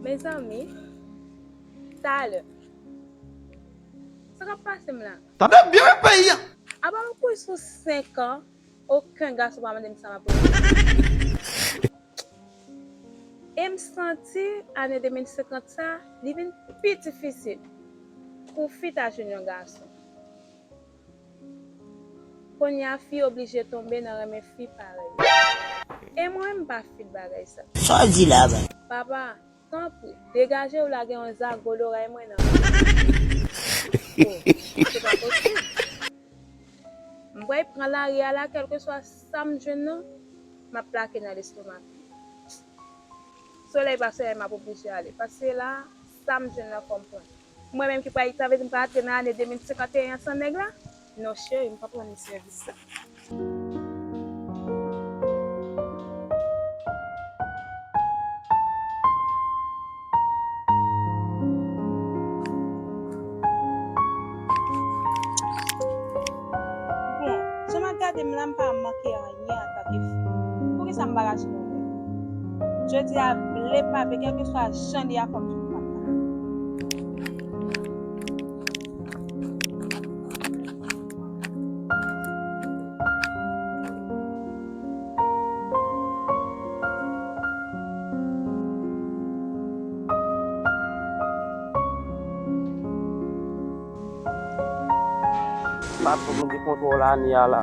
Mezanmi talè Sa kap pasem la. Tande byen wi peyi an. Apa m kwe sou 5 an oken gason pa mande m sa map renmen. E m santi ane 2050 sa li vin pi difisil pou fi ta jwenn yon gason. Konya fi oblije tonbe nan renmen fi parèy li. E mwen menm m pa fil bagay sa. Sa w di la menm? Papa, tanpri, degaje w la gen yon zago loray mwen nan menm. Oh, se pa posib. M bway pran lari a la kèlkeswa sa m jwenn nan, m ap plake nan lestomak li. Solèy pa solèy m ap oblije ale, paske la, sa m jwenn nan fò m pran li. Mwen menm ki pral itan vle di m pral antre nan ane 2051 an san nèg la? Non cheri m pap ranni sèvis la. Bon, jan m ap gade m la m pa manke anyen. byen antanke fi. Poukisa m pa rache yon lè? Jodi a, vle pa vle, kèlkeswa jan li a fò m fin fatra. Patron mwen gen kontwòl ane a la.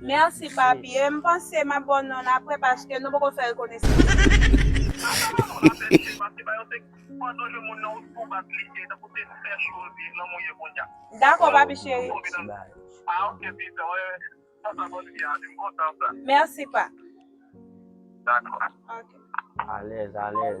Merci papi e m panse m ap ba w non l aprè paske nou poko fè rekonesans. Dako papi cheri. Merci pa. Alèz alèz.